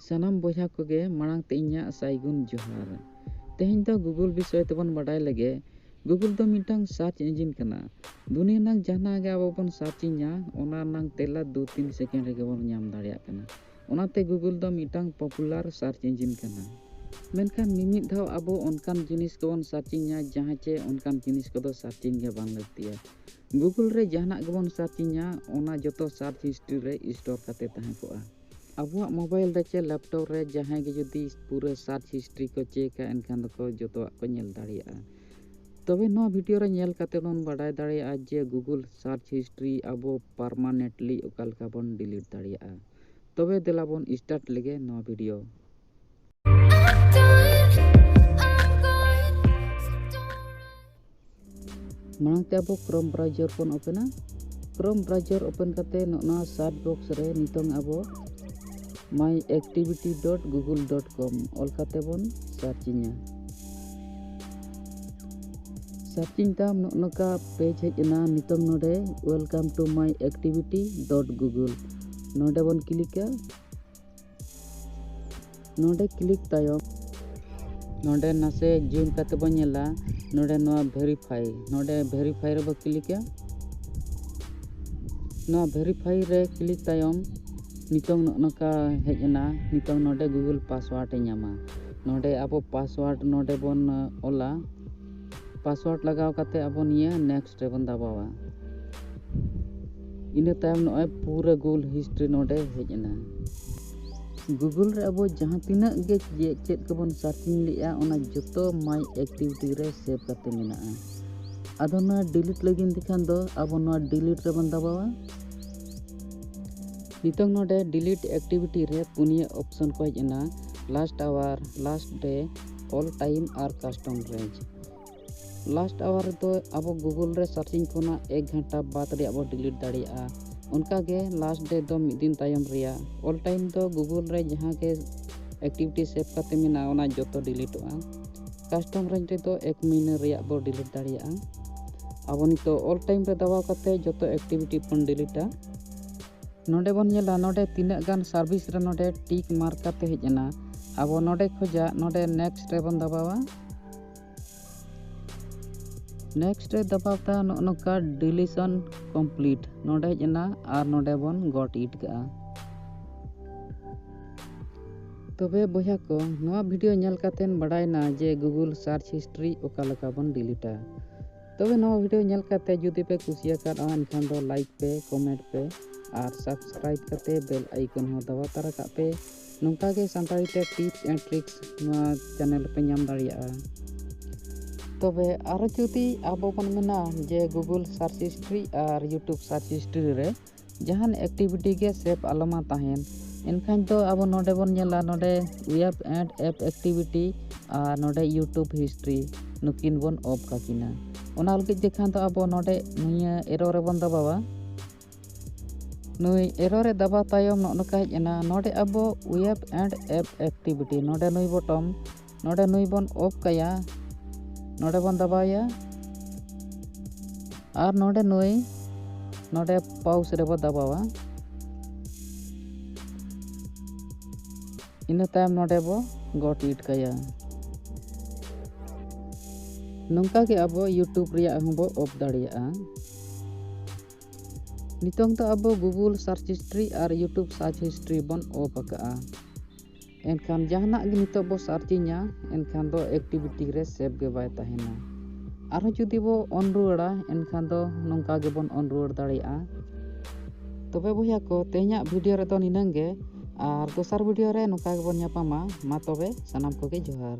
ᱥᱟᱱᱟᱢ ᱵᱚᱭᱦᱟ ᱠᱚᱜᱮ ᱢᱟᱲᱟᱝ ᱛᱮ ᱤᱧᱟᱹᱜ ᱥᱟᱭᱜᱩᱱ ᱡᱚᱦᱟᱨ ᱛᱮᱦᱮᱧ ᱫᱚ ᱜᱩᱜᱩᱞ ᱵᱤᱥᱚᱭ ᱛᱮᱵᱚᱱ ᱵᱟᱰᱟᱭ ᱞᱮᱜᱮ ᱜᱩᱜᱩᱞ ᱫᱚ ᱢᱤᱫᱴᱟᱝ ᱥᱟᱨᱪ ᱤᱧᱡᱤᱱ ᱠᱟᱱᱟ ᱫᱩᱱᱤᱭᱟᱹ ᱨᱮᱱᱟᱜ ᱡᱟᱦᱟᱱᱟᱜ ᱜᱮ ᱟᱵᱚ ᱵᱚᱱ ᱥᱟᱨᱪ ᱤᱧᱟ ᱚᱱᱟ ᱨᱮᱱᱟᱜ ᱛᱮᱞᱟ ᱫᱩ ᱛᱤᱱ ᱥᱮᱠᱮᱱᱰ ᱨᱮᱜᱮ ᱵᱚᱱ ᱧᱟᱢ ᱫᱟᱲᱮᱭᱟᱜ ᱠᱟᱱᱟ ᱚᱱᱟᱛᱮ ᱜᱩᱜᱩᱞ ᱫᱚ ᱢᱤᱫᱴᱟᱝ ᱯᱚᱯᱩᱞᱟᱨ ᱥᱟᱨᱪ ᱤᱧᱡᱤᱱ ᱠᱟᱱᱟ ᱢᱮᱱᱠᱷᱟᱱ ᱢᱤᱢᱤᱫ ᱫᱷᱟᱣ ᱟᱵᱚ ᱚᱱᱠᱟᱱ ᱡᱤᱱᱤᱥ ᱠᱚᱵᱚᱱ ᱥᱟᱨᱪ ᱤᱧᱟ ᱡᱟᱦᱟᱸ ᱪᱮ ᱚᱱᱠᱟᱱ ᱡᱤᱱᱤᱥ ᱠᱚᱫᱚ ᱥᱟᱨᱪ ᱤᱧ ᱜᱮ ᱵᱟᱝ ᱞᱟᱹᱠᱛᱤᱭᱟ ᱜᱩᱜᱩᱞ ᱨᱮ ᱡᱟᱦᱟᱱᱟᱜ ᱜᱮᱵᱚᱱ ᱥᱟᱨᱪᱤᱧᱟ ᱚᱱᱟ ᱡᱚᱛᱚ ᱥᱟᱨᱪ ᱦᱤᱥᱴᱨᱤ ᱨᱮ ᱥᱴᱳᱨ ᱠᱟᱛᱮ ᱛᱟᱦᱮᱸ ᱠᱚᱜᱼᱟ ᱟᱵᱚᱣᱟᱜ ᱢᱳᱵᱟᱭᱤᱞ ᱨᱮ ᱪᱮ ᱞᱮᱯᱴᱚᱯ ᱨᱮ ᱡᱟᱦᱟᱸᱭ ᱜᱮ ᱡᱩᱫᱤ ᱯᱩᱨᱟᱹ ᱥᱟᱨᱪ ᱦᱤᱥᱴᱨᱤ ᱠᱚ ᱪᱮᱠᱟ ᱮᱱᱠᱷᱟᱱ ᱫᱚᱠᱚ ᱡᱚᱛᱚᱣᱟᱜ ᱠᱚ ᱧᱮᱞ ᱫᱟᱲᱮᱭᱟᱜᱼᱟ ᱛᱚᱵᱮ ᱱᱚᱣᱟ ᱵᱷᱤᱰᱤᱭᱳ ᱨᱮ ᱧᱮᱞ ᱠᱟᱛᱮ ᱵᱚᱱ ᱵᱟᱰᱟᱭ ᱫᱟᱲᱮᱭᱟᱜᱼᱟ ᱡᱮ ᱜᱩᱜᱩᱞ ᱥᱟᱨᱪ ᱦᱤᱥᱴᱨᱤ ᱟᱵᱚ ᱯᱟᱨᱢᱟᱱᱮᱴᱞᱤ ᱚᱠᱟ ᱞᱮᱠᱟ ᱵᱚᱱ ᱰᱤᱞᱤᱴ ᱫᱟᱲᱮᱭᱟᱜᱼᱟ ᱛᱚᱵᱮ ᱫᱮᱞᱟ ᱵᱚᱱ ᱥᱴᱟᱨᱴ ᱞᱮᱜᱮ ᱱᱚᱣᱟ ᱵᱷᱤᱰᱤᱭᱳ ᱢᱟᱲᱟᱝ ᱛᱮ ᱟᱵᱚ ᱠᱨᱚᱢ ᱵᱨᱟᱣᱡᱚᱨ ᱵᱚᱱ ᱳᱯᱮᱱᱟ ᱠᱨᱚᱢ ᱵᱨᱟᱣᱡᱚᱨ ᱳᱯᱮᱱ ᱠᱟᱛᱮ ᱱᱚᱜᱼᱱᱟ ᱥᱟᱨᱪ ᱵᱚᱠᱥ ᱨᱮ ᱱᱤᱛᱚᱝ ᱟᱵᱚ my activity dot Google dot com ᱚᱞ ᱠᱟᱛᱮ ᱵᱚᱱ ᱥᱟᱨᱪᱤᱧᱟ ᱥᱟᱨᱪᱤᱧ ᱛᱟᱢ ᱱᱚᱜ ᱱᱚᱝᱠᱟ ᱯᱮᱡᱽ ᱦᱮᱡ ᱮᱱᱟ ᱱᱤᱛᱚᱝ ᱱᱚᱰᱮ welcome to my activity dot Google ᱱᱚᱰᱮ ᱵᱚᱱ ᱠᱞᱤᱠᱟ ᱱᱚᱰᱮ ᱠᱞᱤᱠ ᱛᱟᱭᱚᱢ ᱱᱚᱰᱮ ᱱᱟᱥᱮ ᱡᱩᱢ ᱠᱟᱛᱮ ᱵᱚᱱ ᱧᱮᱞᱟ ᱱᱚᱰᱮ ᱱᱚᱣᱟ ᱵᱷᱮᱨᱤᱯᱷᱟᱭ ᱱᱚᱰᱮ ᱵᱷᱮᱨᱤᱯᱷᱟᱭ ᱨᱮᱵᱚ ᱠᱞᱤᱠᱟ ᱱᱚᱣᱟ ᱵᱷᱮᱨᱤᱯᱷᱟᱭ ᱨᱮ ᱠᱞᱤᱠ ᱛᱟᱭᱚᱢ ᱱᱤᱛᱚᱝ ᱱᱚᱜᱼᱚ ᱱᱚᱝᱠᱟ ᱦᱮᱡ ᱮᱱᱟ ᱱᱤᱛᱚᱝ ᱱᱚᱰᱮ ᱜᱩᱜᱩᱞ ᱯᱟᱥᱣᱟᱨᱰ ᱮ ᱧᱟᱢᱟ ᱱᱚᱰᱮ ᱟᱵᱚ ᱯᱟᱥᱣᱟᱨᱰ ᱱᱚᱰᱮ ᱵᱚᱱ ᱚᱞᱟ ᱯᱟᱥᱣᱟᱨᱰ ᱞᱟᱜᱟᱣ ᱠᱟᱛᱮ ᱟᱵᱚ ᱱᱤᱭᱟᱹ ᱱᱮᱠᱥᱴ ᱨᱮᱵᱚᱱ ᱫᱟᱵᱟᱣᱟ ᱤᱱᱟᱹ ᱛᱟᱭᱚᱢ ᱱᱚᱜᱼᱚᱭ ᱯᱩᱨᱟᱹ ᱜᱩᱞ ᱦᱤᱥᱴᱨᱤ ᱱᱚᱰᱮ ᱦᱮᱡ ᱮᱱᱟ ᱜᱩᱜᱩᱞ ᱨᱮ ᱟᱵᱚ ᱡᱟᱦᱟᱸ ᱛᱤᱱᱟᱹᱜ ᱜᱮ ᱪᱮᱫ ᱠᱚᱵᱚᱱ ᱥᱟᱨᱪᱤᱝ ᱞᱮᱜᱼᱟ ᱚᱱᱟ ᱡᱚᱛᱚ ᱢᱟᱭ ᱮᱠᱴᱤᱵᱷᱤᱴᱤ ᱨᱮ ᱥᱮᱵᱷ ᱠᱟᱛᱮ ᱢᱮᱱᱟᱜᱼᱟ ᱟᱫᱚ ᱱᱚᱣᱟ ᱰᱤᱞᱤᱴ ᱞᱟᱹᱜᱤᱫ ᱛᱮᱠᱷᱟᱱ ᱫᱚ ᱟᱵᱚ ᱱᱚᱣᱟ ᱰᱤᱞᱤᱴ ᱨᱮᱵᱚᱱ ᱫᱟᱵᱟᱣᱟ ᱱᱤᱛᱚᱝ ᱱᱚᱰᱮ ᱰᱤᱞᱤᱴ ᱮᱠᱴᱤᱵᱷᱤᱴᱤ ᱨᱮ ᱯᱩᱱᱭᱟᱹ ᱚᱯᱥᱚᱱ ᱠᱚ ᱦᱮᱡ ᱮᱱᱟ last hour last day all time ᱟᱨ ᱠᱟᱥᱴᱚᱢ ᱨᱮᱧᱡᱽ ᱞᱟᱥᱴ ᱟᱣᱟᱨ ᱨᱮᱫᱚ ᱟᱵᱚ ᱜᱩᱜᱩᱞ ᱨᱮ ᱥᱟᱨᱪᱤᱝ ᱠᱷᱚᱱᱟᱜ ᱮᱠ ᱜᱷᱟᱱᱴᱟ ᱵᱟᱫ ᱨᱮᱭᱟᱜ ᱵᱚ ᱰᱤᱞᱤᱴ ᱫᱟᱲᱮᱭᱟᱜᱼᱟ ᱚᱱᱠᱟᱜᱮ ᱞᱟᱥᱴ ᱰᱮ ᱫᱚ ᱢᱤᱫ ᱫᱤᱱ ᱛᱟᱭᱚᱢ ᱨᱮᱭᱟᱜ ᱚᱞ ᱴᱟᱭᱤᱢ ᱫᱚ ᱜᱩᱜᱩᱞ ᱨᱮ ᱡᱟᱦᱟᱸ ᱜᱮ ᱮᱠᱴᱤᱵᱷᱤᱴᱤ ᱥᱮᱵᱷ ᱠᱟᱛᱮ ᱢᱮᱱᱟᱜᱼᱟ ᱚᱱᱟ ᱡᱚᱛᱚ ᱰᱤᱞᱤᱴᱚᱜᱼᱟ ᱠᱟᱥᱴᱚᱢ ᱨᱮᱧᱡᱽ ᱨᱮᱫᱚ ᱮᱠ ᱢᱟᱹᱦᱱᱟᱹ ᱨᱮᱭᱟᱜ ᱵᱚ ᱰᱤᱞᱤᱴ ᱫᱟᱲᱮᱭᱟᱜᱼᱟ ᱟᱵᱚ ᱱᱤᱛᱚᱜ ᱚᱞ ᱴᱟᱭᱤᱢ ᱨᱮ ᱫᱟᱵᱟᱣ ᱠᱟᱛᱮ ᱡᱚᱛᱚ ᱮᱠᱴᱤᱵᱷᱤᱴᱤ ᱵᱚᱱ ᱰᱤᱞᱤᱴᱟ ᱱᱚᱰᱮ ᱵᱚᱱ ᱧᱮᱞᱟ ᱱᱚᱰᱮ ᱛᱤᱱᱟᱹᱜ ᱜᱟᱱ ᱥᱟᱨᱵᱷᱤᱥ ᱨᱮ ᱱᱚᱰᱮ ᱴᱤᱠ ᱢᱟᱨᱠ ᱠᱟᱛᱮ ᱦᱮᱡ ᱮᱱᱟ ᱟᱵᱚ ᱱᱚᱰᱮ ᱠᱷᱚᱡᱟᱜ ᱱᱚᱰᱮ ᱱᱮᱠᱥᱴ ᱨᱮᱵᱚᱱ ᱫᱟᱵᱟᱣᱟ ᱱᱮᱠᱥᱴ ᱨᱮ ᱫᱟᱵᱟᱣ ᱛᱟ ᱱᱚᱜᱼᱚ ᱱᱚᱝᱠᱟ ᱰᱤᱞᱤᱥᱚᱱ ᱠᱚᱢᱯᱞᱤᱴ ᱱᱚᱰᱮ ᱦᱮᱡ ᱮᱱᱟ ᱟᱨ ᱱᱚᱰᱮ ᱵᱚᱱ ᱜᱚᱴ ᱤᱴ ᱠᱟᱜᱼᱟ ᱛᱚᱵᱮ ᱵᱚᱭᱦᱟ ᱠᱚ ᱱᱚᱣᱟ ᱵᱷᱤᱰᱤᱭᱳ ᱧᱮᱞ ᱠᱟᱛᱮᱱ ᱵᱟᱰᱟᱭᱱᱟ ᱡᱮ ᱜᱩᱜᱩᱞ ᱥᱟᱨᱪ ᱦᱤᱥᱴᱨᱤ ᱚᱠᱟ ᱞᱮᱠᱟ ᱵᱚᱱ ᱰᱤᱞᱤᱴᱟ ᱛᱚᱵᱮ ᱱᱚᱣᱟ ᱵᱷᱤᱰᱤᱭᱳ ᱧᱮᱞ ᱠᱟᱛᱮ ᱡᱩᱫᱤ ᱯᱮ ᱠᱩᱥᱤᱭᱟᱠᱟᱫᱼᱟ ᱮᱱᱠᱷᱟᱱ ᱫᱚ ᱞᱟᱭᱤᱠ ᱯᱮ ᱠᱚᱢᱮᱱᱴ ᱯᱮ ᱟᱨ ᱥᱟᱵᱥᱠᱨᱟᱭᱤᱵ ᱠᱟᱛᱮ ᱵᱮᱞ ᱟᱭᱠᱚᱱ ᱦᱚᱸ ᱫᱟᱵᱟ ᱛᱟᱨᱟ ᱠᱟᱜ ᱯᱮ ᱱᱚᱝᱠᱟ ᱜᱮ ᱥᱟᱱᱛᱟᱲᱤ ᱛᱮ ᱴᱤᱯᱥ ᱮᱱᱰ ᱴᱨᱤᱠᱥ ᱱᱚᱣᱟ ᱪᱮᱱᱮᱞ ᱯᱮ ᱧᱟᱢ ᱫᱟᱲᱮᱭᱟᱜᱼᱟ ᱛᱚᱵᱮ ᱟᱨᱚ ᱡᱩᱫᱤ ᱟᱵᱚ ᱵᱚᱱ ᱢᱮᱱᱟ ᱡᱮ ᱜᱩᱜᱩᱞ ᱥᱟᱨᱪ ᱦᱤᱥᱴᱨᱤ ᱟᱨ ᱤᱭᱩᱴᱩᱵᱽ ᱥᱟᱨᱪ ᱦᱤᱥᱴᱨᱤ ᱨᱮ ᱡᱟᱦᱟᱱ ᱮᱠᱴᱤᱵᱷᱤᱴᱤ ᱜᱮ ᱥᱮᱯ ᱟᱞᱚᱢᱟ ᱛᱟᱦᱮᱱ ᱮᱱᱠᱷᱟᱱ ᱫᱚ ᱟᱵᱚ ᱱᱚᱰᱮ ᱵᱚᱱ ᱧᱮᱞᱟ ᱱᱚᱰᱮ ᱩᱭᱮᱵ ᱮᱸᱰ ᱮᱯ ᱮᱠᱴᱤᱵᱷᱤᱴᱤ ᱟᱨ ᱱᱚᱰᱮ ᱤᱭᱩᱴᱩᱵᱽ ᱦᱤᱥᱴᱨᱤ ᱱᱩᱠᱤᱱ ᱵᱚᱱ ᱚᱯᱷ ᱠᱟᱠᱤᱱᱟ ᱚᱱᱟ ᱞᱟᱹᱜᱤᱫ ᱡᱮᱠᱷᱟᱱ ᱫᱚ ᱟᱵᱚ ᱱᱚᱰᱮ ᱱᱤᱭᱟᱹ ᱮᱨᱚ ᱨᱮᱵᱚᱱ ᱫᱟᱵᱟᱣᱟ ᱱᱩᱭ ᱮᱨᱚ ᱨᱮ ᱫᱟᱵᱟᱣ ᱛᱟᱭᱚᱢ ᱱᱚᱜᱼᱚ ᱱᱚᱝᱠᱟ ᱦᱮᱡ ᱮᱱᱟ ᱱᱚᱰᱮ ᱟᱵᱚ ᱩᱭᱮᱵ ᱮᱸᱰ ᱮᱯ ᱮᱠᱴᱤᱵᱷᱤᱴᱤ ᱱᱚᱰᱮ ᱱᱩᱭ ᱵᱚᱴᱚᱢ ᱱᱚᱰᱮ ᱱᱩᱭ ᱵᱚᱱ ᱚᱯᱷ ᱠᱟᱭᱟ ᱱᱚᱰᱮ ᱵᱚᱱ ᱫᱟᱵᱟᱣᱮᱭᱟ ᱟᱨ ᱱᱚᱰᱮ ᱱᱩᱭ ᱱᱚᱰᱮ ᱯᱟᱣᱩᱥ ᱨᱮᱵᱚ ᱫᱟᱵᱟᱣᱟ ᱤᱱᱟᱹ ᱛᱟᱭᱚᱢ ᱱᱚᱰᱮ ᱵᱚ ᱜᱚᱴ ᱤᱴ ᱠᱟᱭᱟ ᱱᱚᱝᱠᱟ ᱜᱮ ᱟᱵᱚ ᱤᱭᱩᱴᱩᱵᱽ ᱨᱮᱭᱟᱜ ᱦᱚᱸᱵᱚ ᱚᱯᱷ ᱫᱟᱲᱮᱭᱟᱜᱼᱟ ᱱᱤᱛᱚᱝ ᱫᱚ ᱟᱵᱚ ᱜᱩᱜᱩᱞ ᱥᱟᱨᱪ ᱦᱤᱥᱴᱨᱤ ᱟᱨ ᱤᱭᱩᱴᱩᱵᱽ ᱥᱟᱨᱪ ᱦᱤᱥᱴᱨᱤ ᱵᱚᱱ ᱚᱯᱷ ᱟᱠᱟᱜᱼᱟ ᱮᱱᱠᱷᱟᱱ ᱡᱟᱦᱟᱱᱟᱜ ᱜᱮ ᱱᱤᱛᱚᱜ ᱵᱚ ᱥᱟᱨᱪᱤᱧᱟ ᱮᱱᱠᱷᱟᱱ ᱫᱚ ᱮᱠᱴᱤᱵᱷᱤᱴᱤ ᱨᱮ ᱥᱮᱵᱷ ᱜᱮ ᱵᱟᱭ ᱛᱟᱦᱮᱱᱟ ᱟᱨᱦᱚᱸ ᱡᱩᱫᱤ ᱵᱚ ᱚᱱ ᱨᱩᱣᱟᱹᱲᱟ ᱮᱱᱠᱷᱟᱱ ᱫᱚ ᱱᱚᱝᱠᱟ ᱜᱮᱵᱚᱱ ᱚᱱ ᱨᱩᱣᱟᱹᱲ ᱫᱟᱲᱮᱭᱟᱜᱼᱟ ᱛᱚᱵᱮ ᱵᱚᱭᱦᱟ ᱠᱚ ᱛᱮᱦᱮᱧᱟᱜ ᱵᱷᱤᱰᱤᱭᱳ ᱨᱮᱫᱚ ᱱᱤᱱᱟᱹᱝ ᱜᱮ ᱟᱨ ᱫᱚᱥᱟᱨ ᱵᱷᱤᱰᱤᱭᱳ ᱨᱮ ᱱᱚᱝᱠᱟ ᱜᱮᱵᱚᱱ ᱧᱟᱯᱟᱢᱟ ᱢᱟ ᱛᱚᱵᱮ ᱥᱟᱱᱟᱢ ᱠᱚᱜᱮ ᱡᱚᱦᱟᱨ